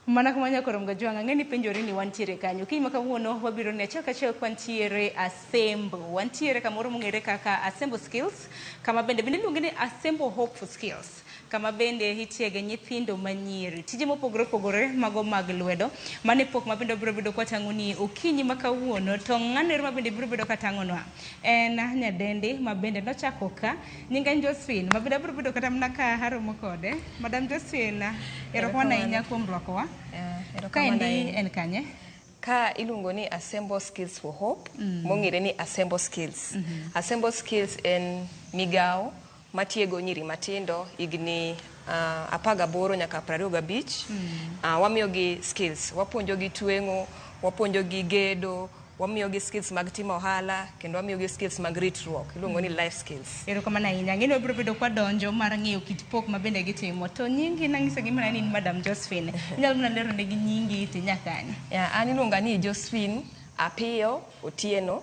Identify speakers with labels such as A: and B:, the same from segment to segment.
A: mana kamano korom ga jwang' ang'e ni penjori ni wantiere kanyo kiny ma kawuono wabiro ne achiel kachiel ka wantiere asembo wantiere kamoro mong'ere kaka asembo skills kama bende bende iluonge ni asembo hope for skills kama bende itiege nyithindo manyiri tije mopogore opogore mago mag lwedo mane pok ma bende wabiro bedo kwatang'oni okinyi ma kawuono to ng'ano ero ma bende biro bedo katang'onwa en nyadendi ma bende nochako ka nyinge en Josephine ma bende abiro bedo kata mana ka aromo kode madam Josephine erokamano ahinya kuom rwakowa kaendi en kanye ka iluongo
B: ni Assemble Skills for Hope mong'ere ni Assemble Skills Assemble Skills en migawo matiego nyiri matindo higni uh, apar gaboro nyaka prariyo gabich uh, wamiyogi skills wapuonjogi tweng'o wapuonjogi gedo wamiyogi skills mag timo ohala kendo wamiyogi skills mag ritruok iluongo ni life skills erokamano ahinya ang'e ni wabiro
A: bedo kwadonjo mar ng'eyo kit pok ma bende gitimo to nyingi nang'iso gi mana ni in madam josephine inyalo mana lero negi nyingi ti nyakani Yeah, an iluonga ni
B: Josephine Apiyo Otieno.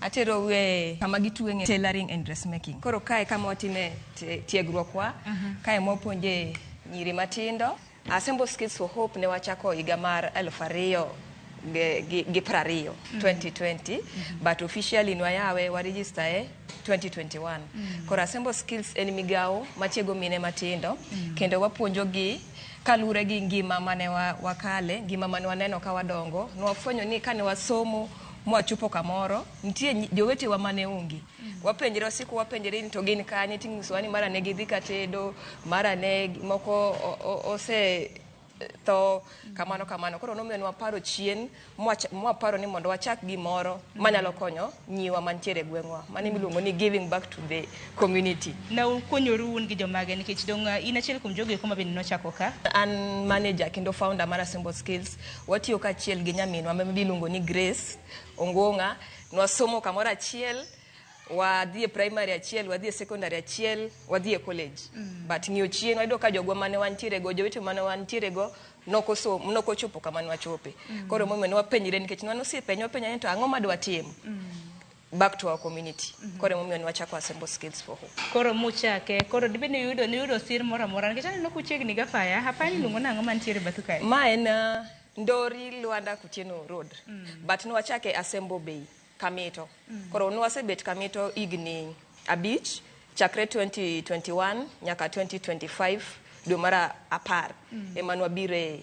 A: Atero we
B: kama gitweng'e tailoring and dressmaking. Koro kae kama watime te- tiegruokwa, kae mwapuonje nyiri matindo. Assemble Skills for Hope ne wachako higa mar eluf ariyo gi- gi gi piero ariyo, 2020, but officially nwayawe waregister e 2021. Koro Assemble Skills en migawo matiego mine matindo kendo wapuonjogi kaluwore gi ngima mane wa- wakale, ngima mane waneno ka wadongo. Nwafwenyo ni kane wasomo mwachopo kamoro nitie nyi- jowetewa mane onge wapenjre wasiko wapenjre ni to gin kanye ting'isowa ni mara ne gidhi katedo mara ne gi- moko o- o- ose tho kamano kamano koro nomiyo ne waparo chien mwacha- mwaparo ni mondo wachak gimoro manyalo konyo nyiwa mantiere e gweng'wa mane miluongo ni giving back to the community Na ukonyoru
A: un gi jomage nikech dong' uh, in achiel kuom jogo eko ma bende nochako ka. an manager
B: kendo founder mar Assemble Skills Watiyo kaachiel gi nyaminwa ma miluongo ni Grace Ongong'a. Nwasomo kamoro achiel, wadhi e primary achiel, wadhi e secondary achiel, wadhi e college. But ng'iyo chien wayudo ka jogwa mane wantiere go, jowete mane wantiere go nok osom- nok ochopo kama nwachope. Koro emomiyo nwapenjre nikech ne wan osiepe, nwapenjre ni to ang'o ma dwatim? back to our community mm -hmm. koro emomiyo niwachako assemble skills for hope koro muchake
A: koro dibe ni yudo ni yudo sir moro amora nikech aneno kuchiegni ga faya hapa ni lungo nango mantiere bathu kae ma en uh,
B: ndori lwanda kutieno road mm. but niwachake assemble bay kamito mm. koro nwasebet kamito igni abich Chakre 2021 nyaka 2025 dwe mar apar ema nwabire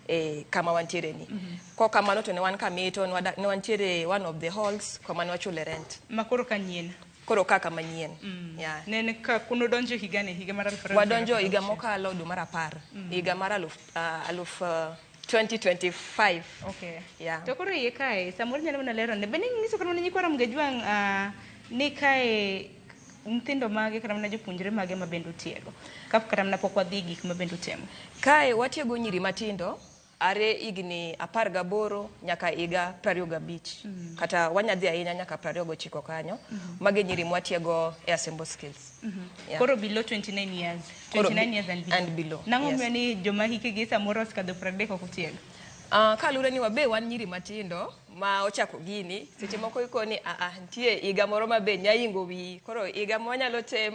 B: e kama wantiere ni. Kok kamano to ne wan kamito, nwada- ne wantiere one of the halls kama nwachule rent. Ma koro ka nyien.
A: Koro kaka manyien.
B: Yeah. Ne en ka
A: kuno donjo higa ne higa mar aluf ariyo gi wadonjo apar higa gauchiel. mokalo
B: dwe mar apar higa mar aluf, ah, aluf ah, 2025 Okay. Yeah.
A: To koro iye kae, samoro nyalo mana lero ne. Be ne inyiso kata mana nyikwa Ramgejwang' ah, ni kae nyithindo mage kata mana jopuonjre mage ma bende utiego ka kata mana pok wadhi gik ma bende utemo kae watiego
B: nyiri matindo are higni apar gaboro nyaka higa prariyo gabich mm -hmm. kata wanyadhi ahinya nyaka prariyo gochiko kanyo mm -hmm. mage nyiri mwatiego e asembo skills mm -hmm. yeah. koro below
A: 29 years 29 years and below, and below. nang'o yes. miyo ni joma hikegi samoro osekadho pradek ok utiego uh, ah, kalure
B: ni wabe wan nyiri matindo ma ochako gini seche moko iko ni aa nitie higa moro ma be nyaingo wiyi koro higa mwanyalo tem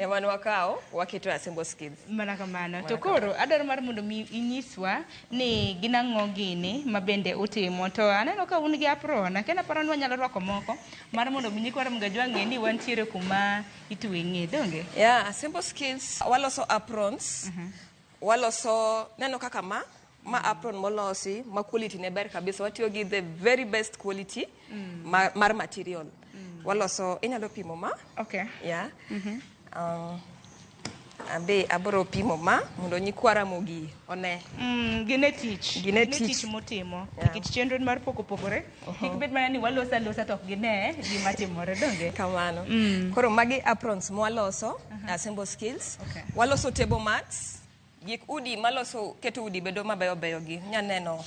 B: ema nwakawo waketo asembo skills mana kamano to
A: koro adwaro mar mondo mi inyiswa ni gin ang'o gini ma bende utimo to aneno ka un gi apron akena paro ni wanyalo rwako moko mar mondo mi nyikwa mgajwa ng'e ni wantiere kuma itweng'e donge ya asembo skills
B: waloso aprons Waloso neno kaka ma ma apron molosi ma quality ne ber kabisa watiyo gi the very best quality mm. mar, mar material mm. waloso inyalo pimo ma okay.
A: yeah. mm -hmm.
B: um, abe abro pimo ma mondo nyikwara mogi one mm, gine tich
A: gine tich motimo nikech yeah. chenro mar pok opogore Kik bed mana ni waloso alosa to ok gine gima timore donge? kamano Mm.
B: koro magi aprons mwaloso assemble skills Okay. waloso table mats gik udi maloso keto udi bedo mabeyo beyo gi nyaneno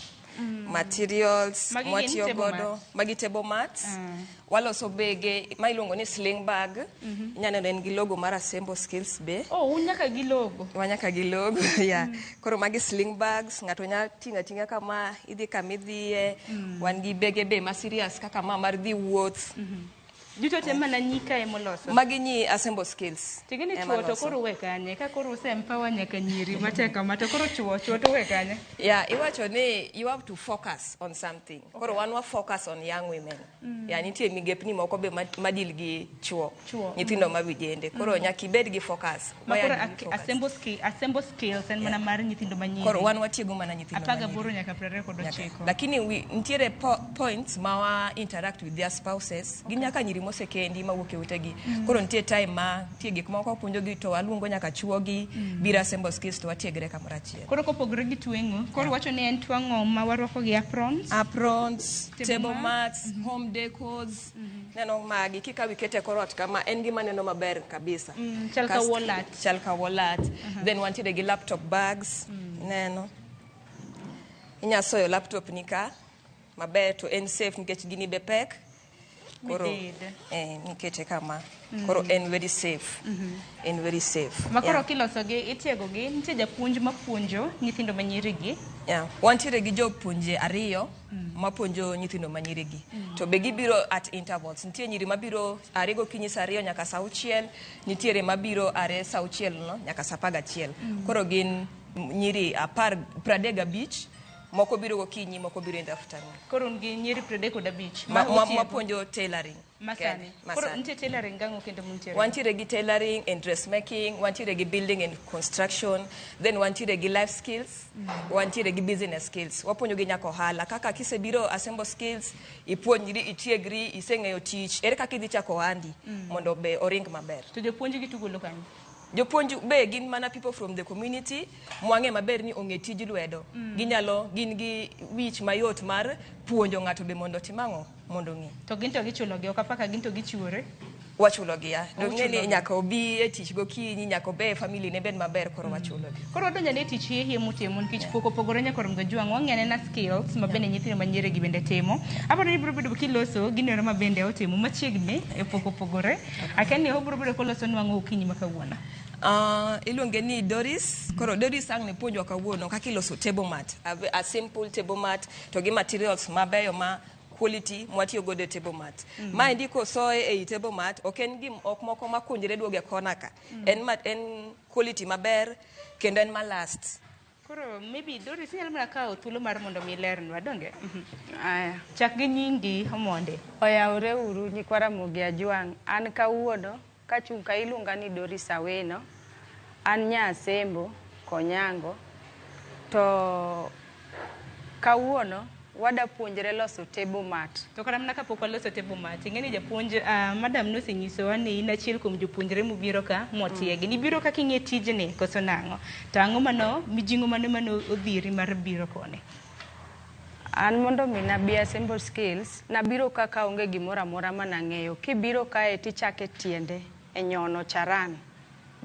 B: materials Magi gin mwatiyo table godo
A: mats.
B: magi
A: table
B: mats
A: Mm.
B: waloso bege ma iluongo ni sling bag nyaneno en gi logo mar assemble skills be Oh, un nyaka gi logo.
A: wanyaka gi logo
B: yeah. Koro magi sling bags, ng'ato nya ting'a ting'a kama, idhi kama idhiye, mm. wan gi bege be ma serious kaka ma mar dhi wuoth. Mm -hmm. Duto te
A: mana nyi ka emo loso. Magi nyi assemble
B: skills. Tigini chuo to koro
A: we
B: kanye,
A: ka
B: koro
A: use empower nyaka nyiri matek kama to koro chuo chuo to we kanye. Yeah, iwacho ni
B: you have to focus on something. Okay. Koro wan wa focus on young women. Mm. Ya nitie migepni moko be ma- madil gi chuo. Chuo, Nyithindo ma vijende. Koro nyaka ibed gi focus. Ma Waya koro gi ak- focus. assemble
A: skill- assemble skills en mana mar nyithindo manyiri. Koro wan watiego mana
B: nyithindo Apar manyiri. gaboro nyaka piero ariyo
A: kod
B: Nyaka-
A: ochiko. lakini wi- nitiere
B: po, points ma wa interact with their spouses gi nyaka nyiri mosekendi mawuok e utegi Mm. koro nitie time ma nitie gik moko puonjogi to waluongo nyaka chuogi Mm. biro assemble skills to watiegre kamoro achiel Koro kopogore gi tweng'o,
A: koro yeah. wacho ni en twang'o ma warwako gi aprons. Aprons,
B: table, table mats, mm -hmm. home decos. Mm -hmm. Neno magi kika wikete koro ot kama en gima neno maber kabisa. Mm, chal ka wallet.
A: Chal ka wallet. Uh
B: mhm. -huh. Then wantiere gi laptop bags. Mm. Neno. Inya soyo laptop ni ka maber to en safe nikech gini be pek. koro Midide. eh, mikete kama koro en very safe en very safe makoro Yeah. kilosogi
A: itiegogi nitie japuonj mapuonjo nyithindo ma nyirigi Yeah. Wantiere
B: gi jopuonje ariyo mapuonjo nyithindo ma nyirigi. To be gibiro at intervals. Nitie nyiri mabiro are gokinyi saa ariyo nyaka saa auchiel, nitiere mabiro are saa auchiel no nyaka saa apar gachiel. Koro gin nyiri apar pradek gabich moko biro gokinyi moko biro in the afternoon koro un gi nyiri piero
A: adek kod abich ma- ma- ma- otiego. mapuonjo
B: tailoring masani Koro
A: masani nitie tailoring gang'o kendo muntiere wantiere gi tailoring
B: and dressmaking wantiere gi building and construction then wantiere gi life skills wantiere gi business skills wapuonjo gi nyaka ohala kaka kisebiro assemble skills ipuonjri itiegri iseng'eyo tich ere kaka idhi chako ohandi mondo be oring maber to jopuonj gi tugolo
A: kanyo Jopuonj be
B: gin mana people from the community mwang'e maber ni ong'e tij lwedo. Mm. Ginyalo gin gi wich mayot mar puonjo ng'ato be mondo otim ang'o mondo ong'e. To gin to gichulo gi
A: okapaka gin to gichiwore. wachulo gi ya
B: dong ne ni nyaka obi e tich go kinyi nyaka obe e family ne ben maber koro mm. wachulo gi koro donja ne tich ye
A: ye mutimo nikech poko pogore nyaka rom ga jwang wang'e ne na skills ma bende nyithindo ma nyere gi bende timo aparo ni bro bedo kiloso ginero ma bende otimo machiegni e poko pogore Akia ni obro biro koloso nwa ang'o okinyi ma kawuono. Uh, iluonge
B: ni Doris. Koro Doris ang' ne puonjwa kawuono kaka iloso table mat. A, ve- a simple table mat to gi materials mabeyo ma quality mwatiyo godo e table mat. Mhm. Ma endi kosoye ei table mat ok en gim ok moko makunjre duoge kona ka. Mhm. En mat en quality maber kendo en ma last. Koro maybe
A: Doris inyalo mana kawo thuolo mar mondo mi ilernwa donge? Aya. Chak gi nyingi omonde. Oyawore uru
C: nyikwa Ramogi Ajwang'. An kawuono kachung' ka iluonga ni Doris Awino. An nya Asembo, Konyango. To kawuono Wada puonjre loso table mat. To kara mana kapok waloso
A: table mat, ing'eni japuonj, ah, madam nosenyisowa ni in achiel kuom jopuonjre mubiro ka motiegi. Nibiro kaka ing'e tijni koso nang'o? To ang'o mano, mijing'o mane mane odhiri mar biro koni?
C: An mondo mi nabi assemble skills, nabiro ka kaonge gimoro amora manang'eyo. Kibiro kae tichake tiende e nyono charan.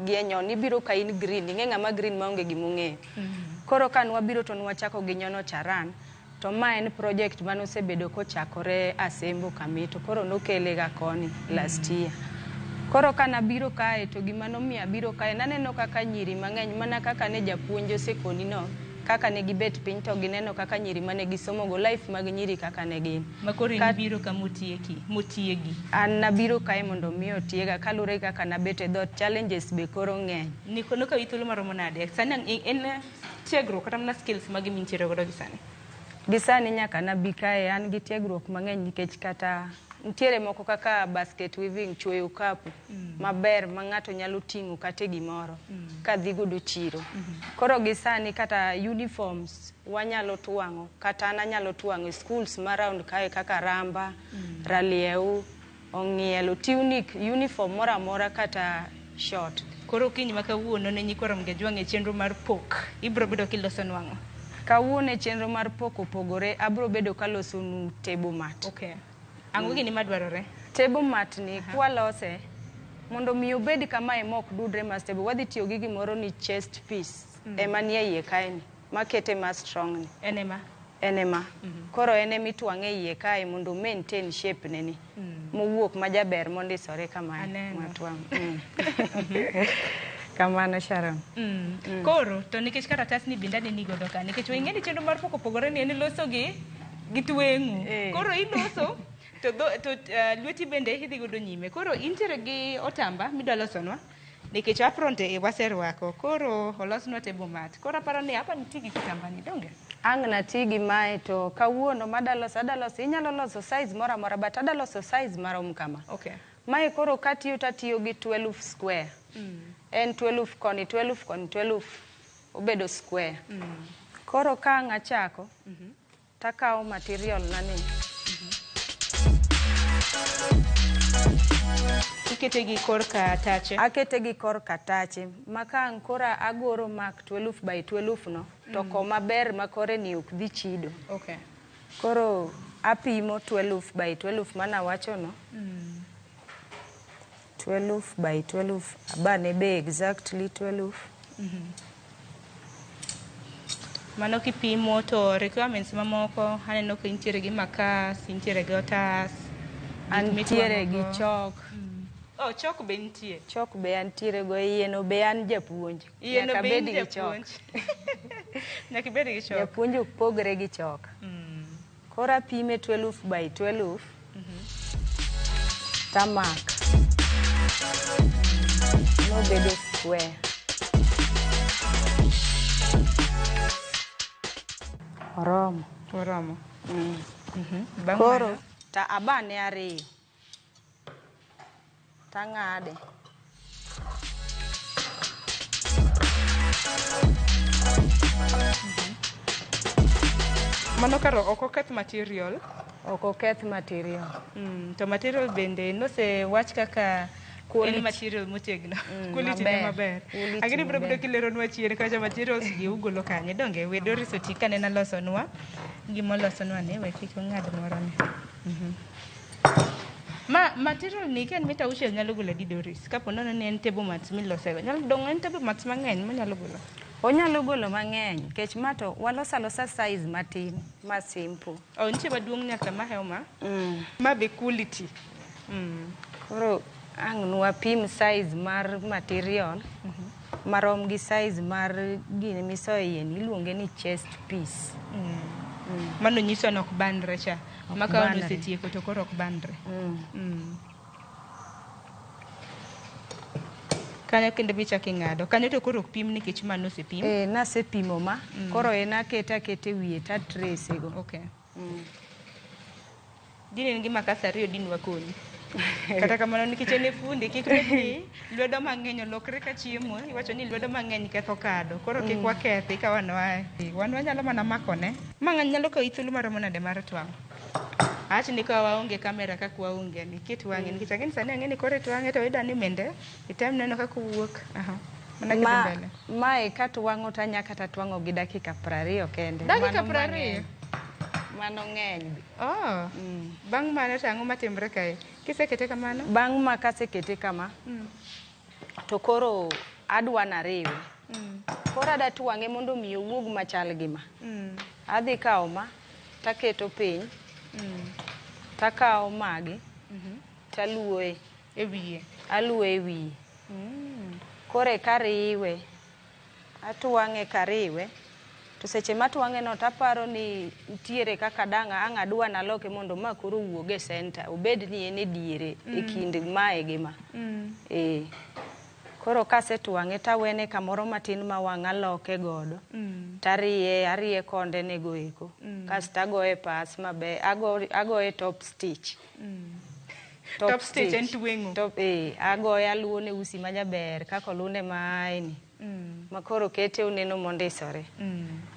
C: gi e nyon ibiro ka in green ing'e ng'ama green maonge gima ong'eyo mm-hmm. koro ka nwabiro to nwachako gi nyono charan to ma en project mane osebedo kochakore asembo kami to koro nokele ga koni last year koro ka nabiro kae to gima nomiyo abiro kae naneno kaka nyiri mang'eny mana kaka ne japuonj osekoni no kaka ne gibet piny to gineno kaka nyiri mane gisomogo life mag nyiri kaka ne gin Ma koro Ka- ibiro ka
A: motieki, motiegi. An nabiro
C: kae mondo mi otiega kaluwore gi kaka nabet e dhoot. Challenges be koro ng'eny. Ni kono ka ithuolo maromo
A: nade? Sani ang- en- en eh, tiegruok kata mana skills mage mintiere godo gi sani? Gi sani
C: nyaka nabi kae an gi tiegruok mang'eny nikech kata nitiere moko kaka basket weaving, chuoyo kapu maber ma ng'ato nyalo ting'o kata e gimoro ka dhi godo chiro. Koro gi sani kata uniforms Wanyalo twang'o kata an anyalo twang'o e schools ma round kae kaka Ramba, Ralieu, Ong'ielo, tunic, uniform moro amora kata short. Koro kiny ma
A: kawuono ne nyikwa Ramgeju wang'e chenro mar pok. Ibro bedo kiloso nwang'o. Kawuono e chenro
C: mar pok opogore, abro bedo kaloso nu table mat. Okay. Ang'o
A: gini madwarore? Table mat ni
C: kwalose mondo mi obed kamae mok dudre ma stable, wadhi tiyo gi gimoro ni chest piece ema nie iye kae ni. makete ma strong ni en ema en ema mm -hmm. koro en ema itwang'e iye kae mondo maintain shape ne ni mm. mowuok ma jaber mondisore kama matwang' mm. kamano Sharon. Mm. Mm. Koro
A: to nikech karatas ni binda ni godo ka nikech wengeni chenro mar poko pogore ni en loso gi gi tweng'u. Eh. Koro iloso to, do, to uh, lweti bende idhi godo nyime. Koro intiere gi otamba midwa losonwa. nikech apron te waserwako koro olosnwa table mat koro aparo ni apa nitie gi kitambani donge ang' nati gi
C: mae to kawuono madaloso adaloso inyalo loso size moro amora but adaloso size marom kama okay. mae
A: koro katiyo
C: tatiyo gi 12 square mm. en 12 koni 12 koni 12 obedo square mm. koro ka ang' achako mm -hmm. Takawo material na ni.
A: Ikete gi kor katache. Akete gi kor
C: katache. Maka ang' kora agoro mark 12 by 12 no, to mm. koma ber ma kore ni ok dhi chido. Okay.
A: Koro
C: apimo 12 by 12 mana wacho no. Mm. 12 by 12 abane be exactly 12
A: mano kipimo to requirements mamoko aneno ka intiere gi makas intiere gi otas gik antiere gi
C: mitwang'ogo. chok oh, chok
A: be nitie chok be antiere
C: go yieno be an japuonj Yieno Nyaka be in bed gi
A: chok. japuonj. nyaka ibed gi chok japuonj ok pogre gi
C: chok Mm. Koro apime tweluf by tweluf. Tamak. Nobedo square.
A: Oromo. Oromo.
C: Bang' Koro mano, ta abane ariyo. tang'ade.
A: Mano karo ok oketh material. Ok oketh
C: material. Mm, to material
A: bende nosewach kaka Quality. en material motegno Mm, quality ne maber. maber Quality lakini bro maber. bro kileronwa chien kacha materials gi ugolo kanye donge we Doris Otika ne nalosonwa gimolosonwa ni we kik ong'ad moroni Mhm. Ma material ni ken mita uchiel nyalo golo adi Doris? Kapo nono ni en table mats milosego. Nyalo dong' en table mats mang'eny monyalo golo. Onyalo golo
C: mang'eny kech ma to walos alosa size matin ma simple. Oh, nitie maduong'
A: nyaka ma hew ma. Mm. Ma be quality. Mm.
C: Koro Ang' nwapim size mar material marom gi size mar gini misoyeni iluonge ni chest piece.
A: Mano nyiso ni ok bandre cha. Ok Ma ka bandre. osetieko to koro ok bandre. Mm. Mm. Kanyo kendo bichako ing'ado. Kanyo to koro ok pim nikech mano osepim. Eh, nasepimo ma
C: koro en aketa aketa e wiye to atrese go. Okay.
A: Mm. Din en gima kasa ariyo din wakonyi. Kata kamano nikech en e fundi kik bed ni lwedo mang'eny olokre ka chiemo iwacho ni lwedo mang'eny ketho kado. Koro kik mm. wakethi ka wan wae. Wan wanyalo mana makone. Ma ng'any nyalo kawi thuolo maromo nade mar twang'? Awacho ni ka waonge kamera kaka waonge ni ket wang'e nikech ang'e ni sani ang'e ni kore twang'e to idani mende item neno kaka owuok. Aha. Mana kidhi mbele. Mae ka twang'o
C: to anya kata twang'o gi dakika prariyo kende. Dakika prariyo?
A: Mano
C: ng'eny. Oh.
A: Mm. Bang' mano to ang'o matimre kae? Kisekete kamano? Bang' ma kasekete
C: kama, mm. to koro adwa nariwe. Mm. Koro ada twang'e mondo mi owuog machal gi ma. Mm. Adhi kawo ma, taketo piny, mm. takawo magi, mm -hmm. Taluoye. E wiye.
A: Aluoye e wiye.
C: Mm. Koro eka riwe. Atwang'e kariwe. To seche matwang'e no taparo ni ntiere kaka dang' ang' adwa naloke mondo ma koro owuog e center. Obed ni en e diere mm. e kind mae gi ma. Mm. Eh. Koro kasetwang'e tawene kamoro matin ma wang' aloke godo mm. tariye ariye konde ne goeko mm. kasto agoye pas maber agoye top stitch
A: Top stage en tweng'o. Top, eh, agoye
C: aluwo ne usi ma jaber kaka olunde maeni ma koro kete oneno mondisore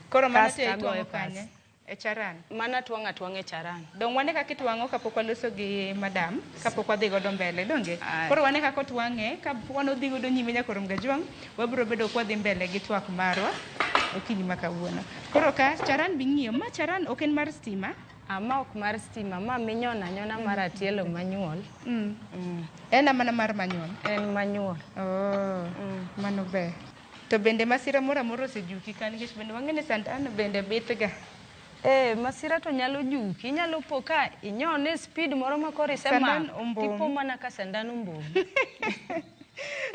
C: Koro mano
A: Kasto te agoyo itwang'o pas. kanye? E charan. mana twang' atwang'
C: e charan Dong wane kaka itwang'o
A: kapok waloso gi madam, kapok wadhi godo mbele, donge? Aye. Koro wane kaka otwang'e, ka wan odhi godo nyime nyaka orum gajwang', wabiro bedo ka wadhi mbele gi twak marwa okinyi ma kawuono. Koro ka charan bing'iyo, ma charan ok en mar stima, Ah, ma ok mar
C: stima, ma minyono anyona mar atielo manyuol. Mm. Mm.
A: En amana mar manyuol? En manyuol.
C: Oh, mm.
A: mano ber. To bende masira moro amoro osejuki ka nikech bende wang'e ni sandan bende bitga. Eh,
C: masira to nyalo juki, inyalo po ka inyone speed moro ma koro isemako, tipo
A: mana ka
C: sandan ombom.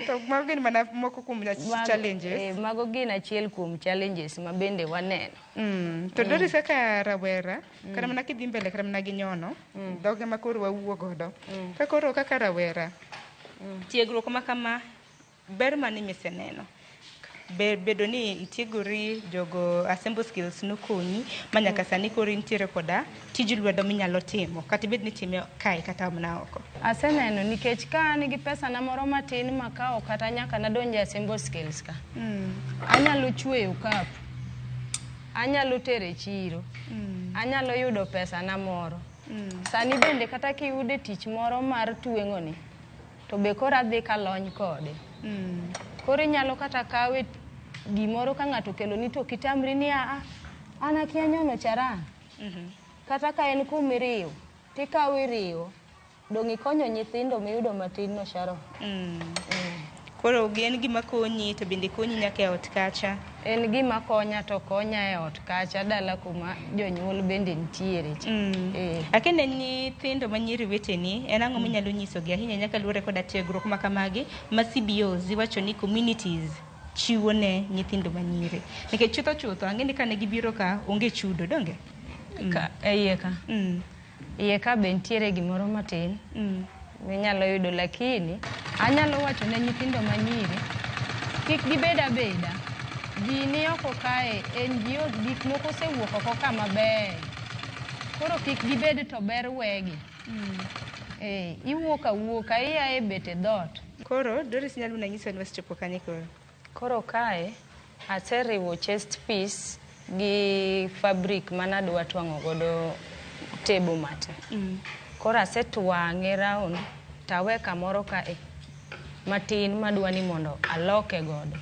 A: to mago gin mana moko kuom challenges. Eh, mago gin achiel
C: kuom challenges ma bende waneno. Mm. To mm. Doris
A: kaka rawera mm. kata mana kidhi mbele kata mana gi nyono mm. dhoge ma koro wawuo godo mm. ka koro kaka rawera mm. tiegruok ma kama ber mane miseneno bedo ni itiegori jogo assemble skills nokonyi ma nyaka mm. sani koro intiere koda tij lwedo minyalo timo kata ibed ni itime kae kata mana oko? Aseneno nikech
C: ka an gi pesana moro matin makawo kata nyaka nadonj e assemble skills ka. Anyalo chweyo kapu, anyalo tero e chiro, anyalo yudo pesana moro. Sani bende kata kiyude tich moro mar tweng'oni, to be koro adhi kalony kode. Koro inyalo kata kawe gimoro ka ng'ato okeloni to ok itamri ni aa, an akia nyono charan. Mhm. Kata ka en kum iriwo, tikawo iriwo, dong' ikonyo nyithindo miyudo matin no Sharon. Mm. Mm.
A: Koro en gima konyi to bende konyi nyaka e ot kacha. En gima
C: konya to konya e ot kacha dala kuma jonyuol bende nitiere. cha. Mm. Eh. Akende
A: nyithindo ma nyiri weteni, en ang'o minyalo nyisogi ahinya nyaka luwore koda tiegruok ma kamagi ma CBOs iwacho ni communities chiwo ne nyithindo ma nyiri nikech chutho chutho ang'e ni kane gibiro ka onge chudo donge Ka- e iye ka mm.
C: iye ka be nitiere gimoro matin Mm. minyalo yudo lakini anyalo wacho ne nyithindo manyiri kik gibed abeda ji ni oko kae NGOs gik moko osewuok oko ka maber koro kik gibed to ber wegi Eh, iwuok awuoka ia e bete dhoot Koro Doris nyalo
A: mana nyiso ni wasechopo kanye koro. Koro kae
C: aseriwo chest piece gi fabric manadwa twang'o godo table mate. Mm. Koro asetwang'e round tawe kamoro kae matin madwa ni mondo aloke godo.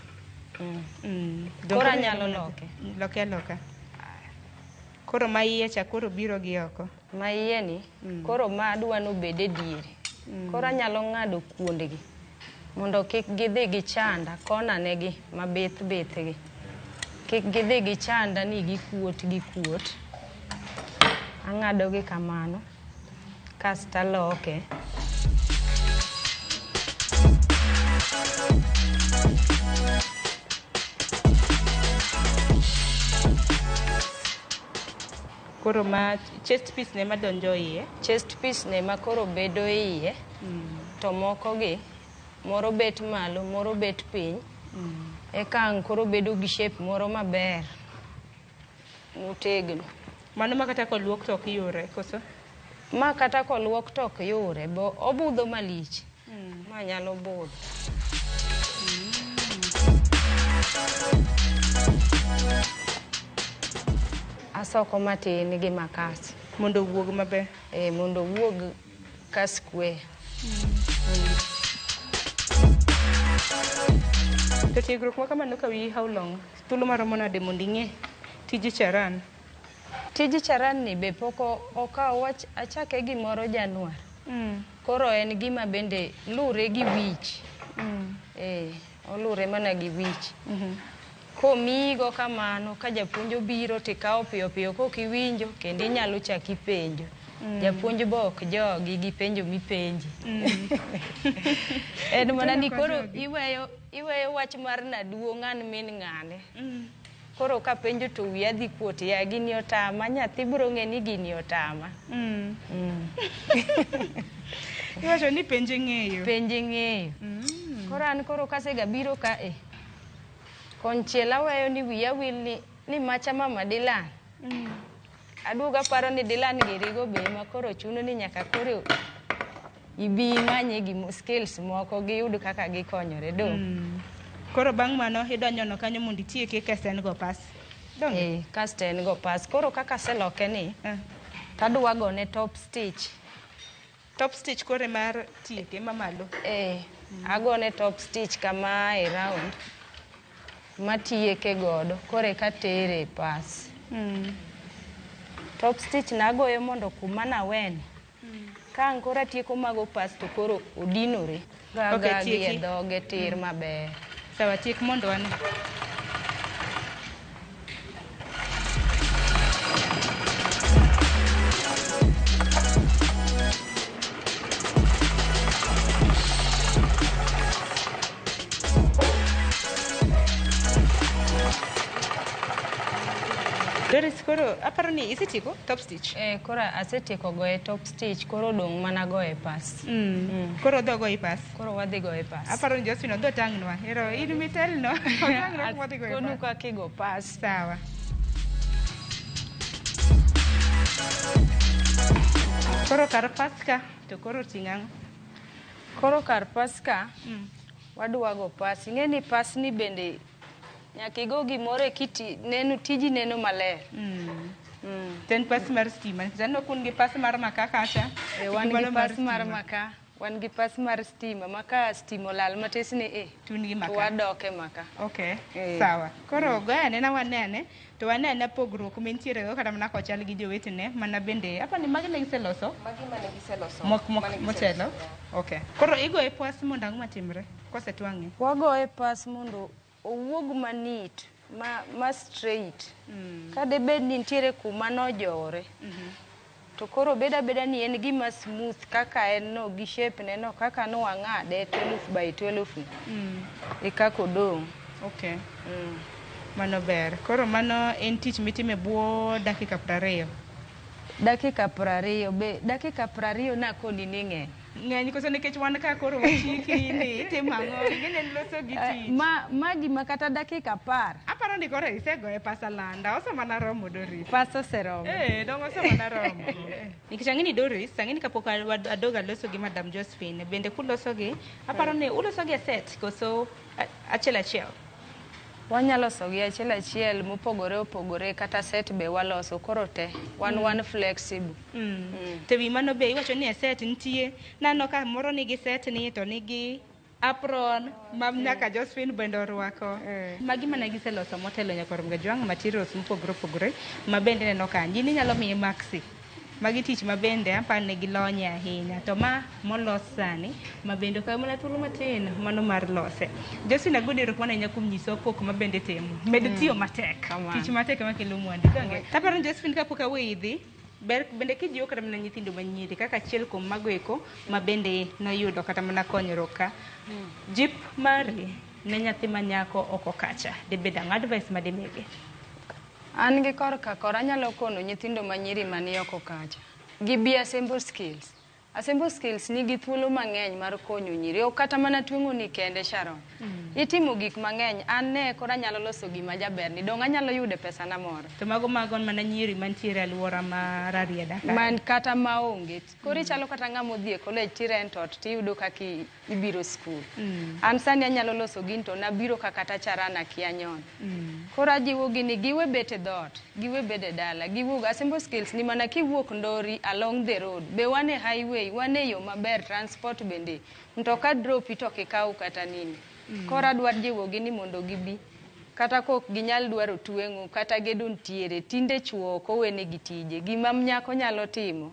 C: Mm. Mm. Koro anyalo loke. Loke aloka.
A: Koro ma iye cha koro biro gi oko. Maieni
C: koro ma adwa ni obed e diere. Koro anyalo ng'ado kuondgi mondo kik gidhi gichanda konanegi ma bith bithgi. Kik gidhi gichanda ni gikuot gikuot. Ang'adogi kamano kasto aloke.
A: Koro ma chest piece ne madonjo iye. Chest piece ne ma
C: koro bedo iye. Mm. To moko gi moro bet malo, moro bet piny. Mm. Eka ang' koro bedo gi shape moro maber. Motegno. Mano ma kata
A: koluok to ok yure, koso? Ma kata
C: koluok to ok yure, bo obudho malich. Ma nyalo budho. Asoko matin gi makas. Mondo owuog maber.
A: Eh, mondo owuog
C: ka square.
A: To tiegruok ma kamano kawi how long? Thuolo maromo nade mondo ing'e tij charan? Tij
C: charan ni be pok okaw wach achake gimoro Januar. Mm. Koro en gima bende lure gi wich. Mm. Eh, olure mana gi wich. Mm -hmm. Komigo kamano ka japuonj obiro to ikawo piyo piyo kok iwinjo kendo inyalo chak ipenjo. Mm. Japuonj be ok jogi gi penjo mipenji. Mm. en mana ni koro iweyo iweyo wach mar naduong' an min ng'ane. Mm. Koro kapenjo to wiya dhi kuot ya gini otama nyathi biro ng'e ni gini otama. Mm.
A: Mm. Iwacho ni penje ng'eyo. Penje ng'eyo.
C: Mm. Koro an koro kasega biro ka e. Konchiel aweyo ni wiya wil ni, ni macha mama Dilan. Mm. Aduoga paro ni Dilan girigo be ma koro chuno ni nyaka koro ibi imanye gi skills moko giyud kaka gikonyore do mm. koro bang'
A: mano idonyono kanyo mondo itieke kasto en go pas eh, kasto
C: en go pas koro kaka aseloke ni eh. tadwa gone top stitch top
A: stitch kore mar tieke mamalo eh, mm. agone
C: top stitch kama e round matieke godo kore katere pas mm. top stitch nagoyo mondo kuma naweni Ka ang' koro atieko mago pasto koro odinore. Ga Okay, ga gi e tieki. dhoge tir maber. Sawa, tiek mondo
A: ane. Doris, koro aparo ni isetieko top stitch. stitch. Eh, koro asetieko
C: goye top stitch, koro odong' mana goye pas. Mm. Mm. Koro odho
A: goye pas. Koro wadhi goye pas.
C: Aparo ni Josephine odho
A: tang'nwa. Ero in mitelno. Otang'nwa kuma wadhi goye pas. Konu kaka igo pas.
C: Sawa.
A: Koro kar paska to koro ting' ang'o? Koro
C: kar paska mm. wadwago pas. Ing'e ni pas ni bende Nyaka igo gimoro eki ti- neno tiji neno maler.
A: To en pas mar stima nikech aneno kun gi pas mar makaa kacha. E, wan Mano gi pas mar
C: stima. makaa, wan gi pas mar stima ma ka stima olal matis ni i, Tun gi to makaa.
A: wadoke makaa.
C: Okay, Eh. sawa.
A: Koro goya nena wanene. to ane ane pogruok ma entiere go kata mana kochal gi jowetene mana bende apa ni magi ne giseloso Magi mane giseloso.
B: mok mok Mane motelo
A: giseloso. okay koro igoye pwas mondo ang'o matimre kosetwang'e wagoye pas
C: mondo owuog manit ma, ma straight ka debed ni nitiere kuma nojowore To koro obed abeda ni en gima smooth kaka en no gi shape ne no kaka no ang'ade 12 by 12 ni. Mm. E kaka odong'. Okay. Mm.
A: Mano ber. Koro mano en tich mitime bwo dakika prariyo. Dakika
C: prariyo be dakika prariyo nakoni ni ng'eny. ng'eny koso nikech
A: wan ka koro wachiki ni tim ang'o ing'eni en loso gi eh, tich ma ma gima kata
C: dakika apar aparo ni koro isegoye
A: pasa landa osemana romo doris pasa oseromo eh
C: dong osemana
A: romo nikech ang'eni doris ang'eni kapok adoga loso gi madam josephine bende kuloso gi aparo ni uloso gi e set koso achiel achiel
C: Wanya loso gi achiel achiel mopogore opogore kata set be waloso koro te wan mm. wan flexible. Mm. Mm. To wi
A: mano be iwacho ni e set nitie nano ka moro nigi set ni to nigi apron ma mm. nyaka Josephine bende orwako. Mm. Magi mana giseloso motelo nyaka Oromga Jwang' materials mopogore opogore ma bende neno kanyo. In inyalo miye maxi. Magi tich ma bende aparo ni gilonye ahinya to ma molos sani ma bende okawo mana thuolo matin mano mar lose. Justin Agudi erokamano ahinya kuom nyiso pok ma bende timo. Med mm. tiyo matek. Kamano. Tich matek ema kelo mwandu. Donge. Taparo ni Justin kapok awe idhi ber bende kijiwo kata mana nyithindo manyiri kaka achiel kuom mago eko ma bende noyudo kata mana konyruok ka. Mm. Jip mari ne nyathi manyako oko kacha. Dibed ang'o advice ma dimigi? An
C: gi korka kor anyalo kono nyithindo ma nyiri mani oko kacha gi bi Assemble Skills. Assemble Skills nigi thuolo mang'eny mar konyo nyiri. Ok kata mana tweng'oni kende Sharon. Itimo gik mang'eny. An ne koro anyalo loso gima jaberni. Donge anyalo yude pesana moro? To mago mago mana
A: nyiri mantiere e alwora ma Rarieda ka. Man kata maonge.
C: Koro ichalo kata ng'ama odhi e college ti rent ot tiyudo kaka ibiro skul mm. an sani anyalo loso gin to nabiro kaka tachara nakia nyon mm. koro ajiwogi ni giwe bet e dhoot giwe bed e dala giwuog asembo skills ni mana kiwuok ndori along the road be wan e highway wan e yo maber transport bende mtoka dropi to kikaw kata nini mm. koro adwar jiwogi ni mondo gibi kata kok ginyal dwaro tweng'o kata gedo ntiere tinde chwo ok owenegi tije gima nyako nyalo timo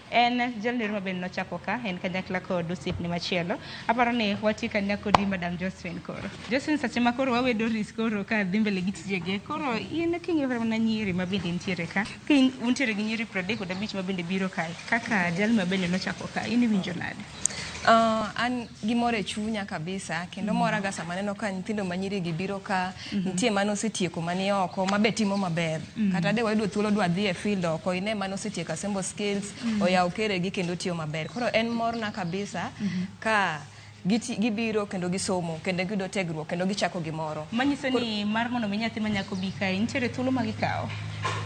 A: En jalni Ruma bende nochako ka en kanyakla kod osiepne machielo. Aparo ni watie kanya kodi Madam Josephine koro. Josephine sache ma koro wawe Doris koro ka dhi mbele gi tijege. Koro in king'iyo kata mana nyiri ma bende nitiere ka. Ka in- untiere gi nyiri 35 ma bende biro kae. Kaka jalni ma bende nochako ka. In iwinjo nade? Uh, an
B: gimoro e chunya kabisa kendo mm. moraga sama neno ka nyithindo manyirigi biro ka mm -hmm. nitie mane osetieko mani oko mabe timo maber mm -hmm. kata de wayudo thuolo dwa dhi e field oko ine mane osetieko asembo skills mm -hmm. oyawo keregi kendo tiyo maber koro en morna kabisa mm -hmm. ka gibiro kendo gisomo kendo giyudo tegruok kendo gichako gimoro manyiso ni mar
A: mondo mi nyathi manyako bi kae nitiere thuolo ma gikawo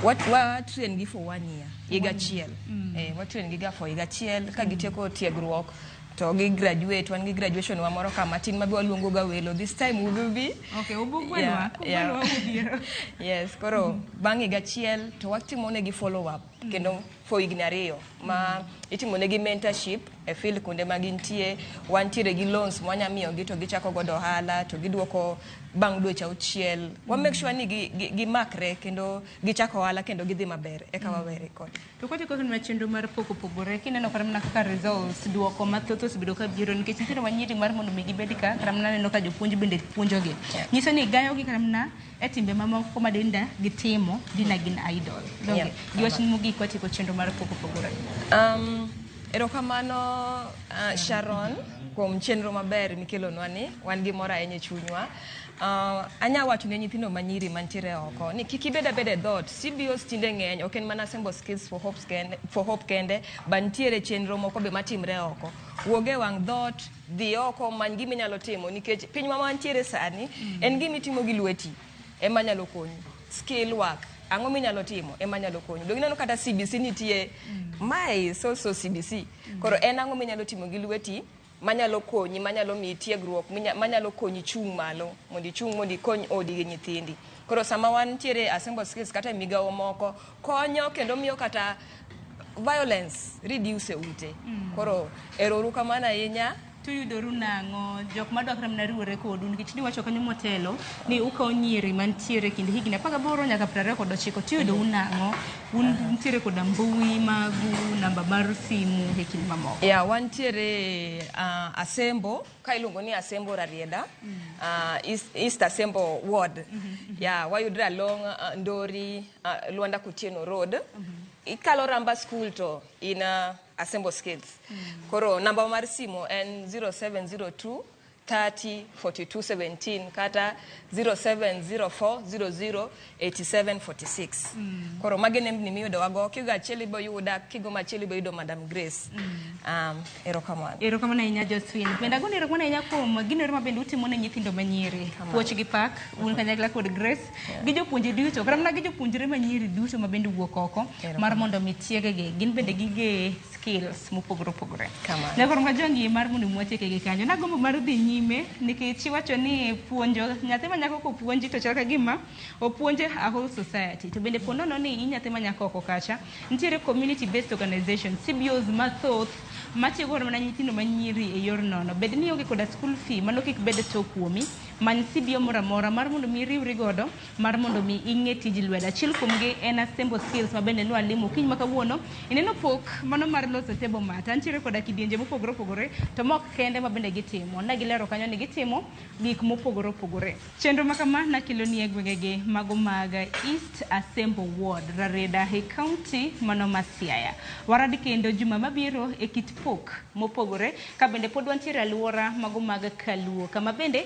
B: watren gi for one year higa achiel mm. eh, watrain gi ga for higa achiel ka gitieko tiegruok to gi graduate wan gi graduation wa moro ka matin ma be waluongo ga welo this time we will be okay ubugwelwa
A: kubelwa ubiro
B: yes koro mm. bang' higa achiel to watimo ne gi follow up mm. kendo for higni ariyo ma itimo ne gi mentorship e field kuonde ma gintie wantiere gi loans mwanya miyo gi to gichako godo ohala to giduoko bang' dweche auchiel wa make sure ni gi, gi, gi makre kendo gichako ohala kendo gidhi maber eka mm. wawe record. To kote kaka nwa chenro
A: mar poko pogore kineno kata mana kaka results duoko mathoth osebedo ka biro nikech nitiere wanyiri mar mondo mi gibed ka kata mana neno ka jopuonj bende puonjogi. Nyiso ni gayogi kata mana e timbe mamoko ma dinda gitimo dina gin idol. Donge giwach ni mogik watieko chenro mar poko pogore. Um, erokamano
B: uh, Sharon kuom chenro maber mikelonwa ni wan gi mor ahinya e chunywa Uh, anya wacho ne nyithindo manyiri mantiere oko ni kik ibed abed e dhoot cbos tinde ng'eny ok en mana assemble skills for hope kende, for hope kende but nitiere chenro moko be matimre oko wuog e wang' dhoot dhi oko many gima inyalo timo nikech piny ma mantiere sani mm. en gima itimo gi lweti ema nyalo konyi skill work ang'o minyalo timo ema nyalo konyo donge ineno kata cbc nitie mm. mae is also cbc mm. koro en ang'o minyalo timo gi lweti manyalo konyi, manyalo miyi tiegruok, manyalo konyi chung' malo, mondo ichung' mondo ikony odi gi nyithindi. Koro sama wan tiere assemble skills kata e migawo moko, konyo kendo miyo kata violence reduce e ute. Mm. Koro erouru kamano ahinya tuyudoru nang'o
A: jok ma dwakre mana riwore kodu nikech niwacho kanyo motelo ni ukawo nyiri mantiere e kind higni apar gaboro nyaka piero ariyo kod ochiko tuyudou nang'o Un nitiere koda mbui magu, namba mar simu e kind mamoko. Yeah, wantiere
B: uh, Asembo ka iluongo ni Asembo Rarieda mm. uh, East, East Asembo Ward mm -hmm. yeah, wayudre along uh, Ndori uh, Luanda Kutieno Road mm -hmm. ikalo Ramba School to in uh, Asembo Skates mm -hmm. koro namba mar simo en 0702 30 42 17 kata 0704 00 87 46 mm. koro magi nembni miyudowago kigo achiel ibo yuda kigo machiel ibo yudo madam grace mm. um, erokamano erokamano ahinya
A: joswin pendagon erokamano ahinya kuom gino ero mabende utimo ne nyithindo manyiri puoch gi pak un kanyakla kod grace yeah. gi jopuonje duto kata mana gi jopuonjre manyiri duto mabende wuok oko mar mondo mi tiegegi gin bende gige skills mopogore opogore Kamano. ne koro nga jongi mar mondo mwacheke gi kanyo nagombo mar dhi nyime nikech iwacho ni puonjo nyathi ma nyako kopuonji to chal ka gima opuonje a whole society to bende po nono ni i nyathi ma nyako oko kacha nitiere community based organization cbos mathoth matiyo godo mana nyithindo manyiri e yor nono bed ni ionge koda school fee mano kik bed to kuomi many cbo moro amora mar mondo mi iriwri godo mar mondo mi ing'e tij lwedo. Achiel kuomgi en assemble skills ma bende nwalimo okinyi ma kawuono. Ineno pok mano mar loso table mat. Antiere koda kidienje mopogore opogore to mok kende ma bende gitimo. Ne gilero kanyo ni gitimo gik mopogore opogore. Chenro ma kama nakeloni e gwengegi mago mag East Assemble Ward, Rarieda e kaunti mano ma Siaya. Warad kendo juma mabiro e kit pok mopogore ka bende pod wantiere aluora mago mag Kaluo kama bende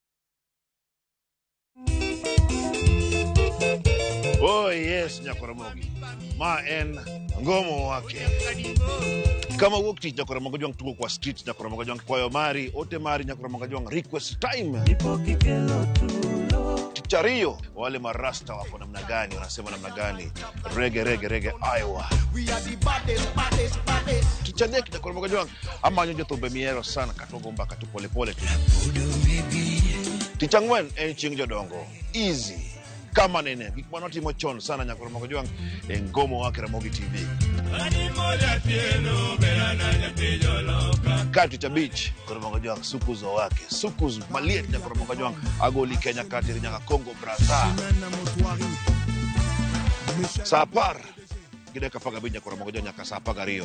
D: Oh yes, Nyakoromogi. Ma en ngomo wake. Kama wuok tich Nyakoromogo jwang' tugo kwa street Nyakoromogo jwang' kwayo mari, ote mari Nyakoromogo jwang' request time. Tich ariyo wale marasta wako namna gani, wanasema namna gani? Rege rege rege Iowa. Tich adek Nyakoromogo jwang' Amanyo jothumbe mihero sana kata ogo mbaka to polepole tu. Tich ang'wen en chieng' jodongo. Easy. Kama nene gik mane watimo chon sana nyaka Ramogi Jwang' e ngomo wa Ramogi TV. Ka tich abich Ramogi Jwang' sukus owake. Sukus maliet nyaka Ramogi Jwang' agoli Kenya katiri nyaka Congo Brazza. Saa apar gi dakika apar gabich nyaka Ramogi Jwang' nyaka saa apar gariyo.